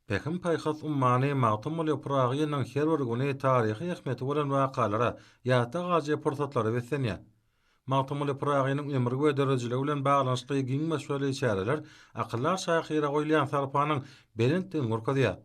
Pähim-paýhas ummany Magtymguly Pyragynyň her bir güni taryhy ähmiýeti bolan wakalara, ýatda galjy pursatlara beslenýär. Magtymguly Pyragynyň ömri we döredijiligi bilen baglanyşykly giň möçberli çäreler akyldar şahyra goýulýan sarpanyň belentdigini görkezýär.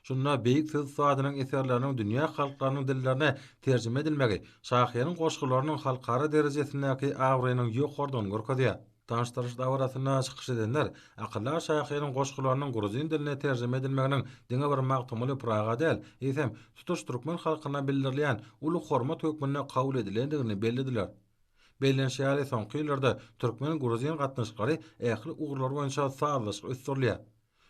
Şunda beýik söz ussadynyň eserleriniň dünýä halklarynyň dillerine terjime edilmegi şahyryň goşgularynyň halkara derejesindäki abraýynyň ýokarydygyny görkezýär. Tanyşdyryş dabarasynda çykyş edenler akyldar şahyryň goşgularynyň gruzin diline terjime edilmeginiň diňe bir Magtymguly Pyraga däl, eýsem, tutuş türkmen halkyna bildirilýän uly hormat hökmünde kabul edilendigini bellediler. Bellenişi ýaly, soňky ýyllarda türkmen-gruzin gatnaşyklary ähli ugurlar boýunça sazlaşyk ösdürilýär.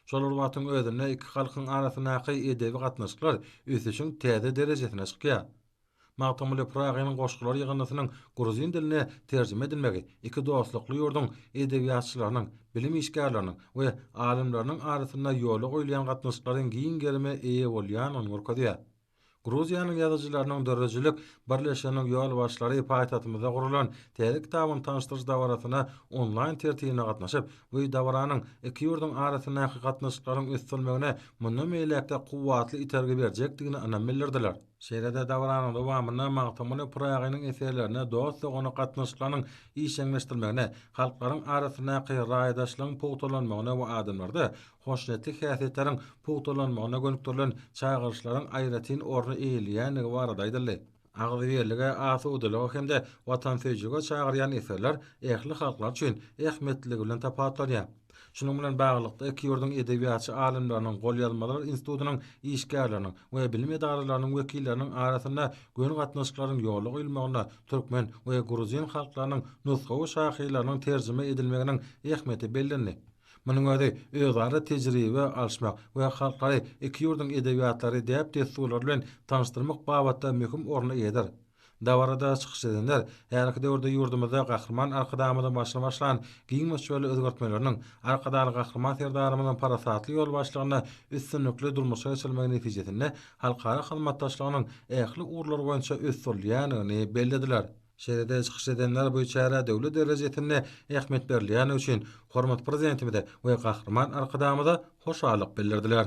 Şol bir wagtyň özünde iki halkyň arasyndaky edebi gatnaşyklar ösüşiň täze derejesine çykýar. Magtymguly Pyragynyň goşgulary ýygyndysynyň gruzin diline terjime edilmegi iki dostlukly ýurduň edebiýatçylarynyň, bilim işgärleriniň we alymlarynyň arasynda ýola goýulýan gatnaşyklaryň giň gerime eýe bolýandygyny görkezýär. Gruziýanyň ýazyjylarynyň döredijilik birleşiginiň ýolbaşçylary paýtagtymyzda guralan täze kitabyny tanyşdyryş dabarasyna onlaýn tertibinde gatnaşyp, bu dabaranyň iki ýurduň arasyndaky gatnaşyklaryň ösdürilmegine mundan beýläk-de kuwwatly itergi berjekdigine ynam bildirdiler. Şeýle-de dabaranyň dowamynda Magtymguly Pyragynyň eserlerine dost-dogana gatnaşyklarynyň işjeňleşdirmegine, halklaryň arasyndaky raýdaşlygyň pugtalanmagyna we adamlarda hoşniýetli häsiýetleriň pugtalanmagyna gönükdirilen çagyryşlaryň aýratyn orny eýeleýändigi barada aýdyldy. Agzybirlige, asudalyga hem-de watansöýüjilige çagyrýan eserler ähli halklar üçin ähmiýetliligi bilen tapawutlanýar. Şunuň bilen baglylykda, iki ýurduň edebiýatçy alymlarynyň, golýazmalar institutynyň işgärleriniň we bilim edaralarynyň wekilleriniň arasynda göni gatnaşyklaryň ýola goýulmagynda türkmen we gruzin halklarynyň nusgawy şahyrlarynyň terjime edilmeginiň ähmiýeti bellendi. Munuň özi özara tejribe alyşmak we halklary, iki ýurduň edebiýatlary, däp-dessurlary bilen tanyşdyrmak babatda möhüm orna eýedir. Dabarada çykyş edenler häzirki döwürde ýurdumyzda Gahryman Arkadagymyzyň başyny başlan giň möçberli özgertmeleriniň Arkadagly Gahryman Serdarymyzyň parasatly ýolbaşçylygynda üstünlikli durmuşa geçirilmegi netijesinde halkara hyzmatdaşlygynyň ähli ugurlary boýunça ösdürilýändigini bellediler. Şeýle-de çykyş edenler bu çärä döwlet derejesinde ähmiýet berilýändigi üçin hormatly Prezidentimize we Gahryman Arkadagymyza hoşallyk bildirdiler.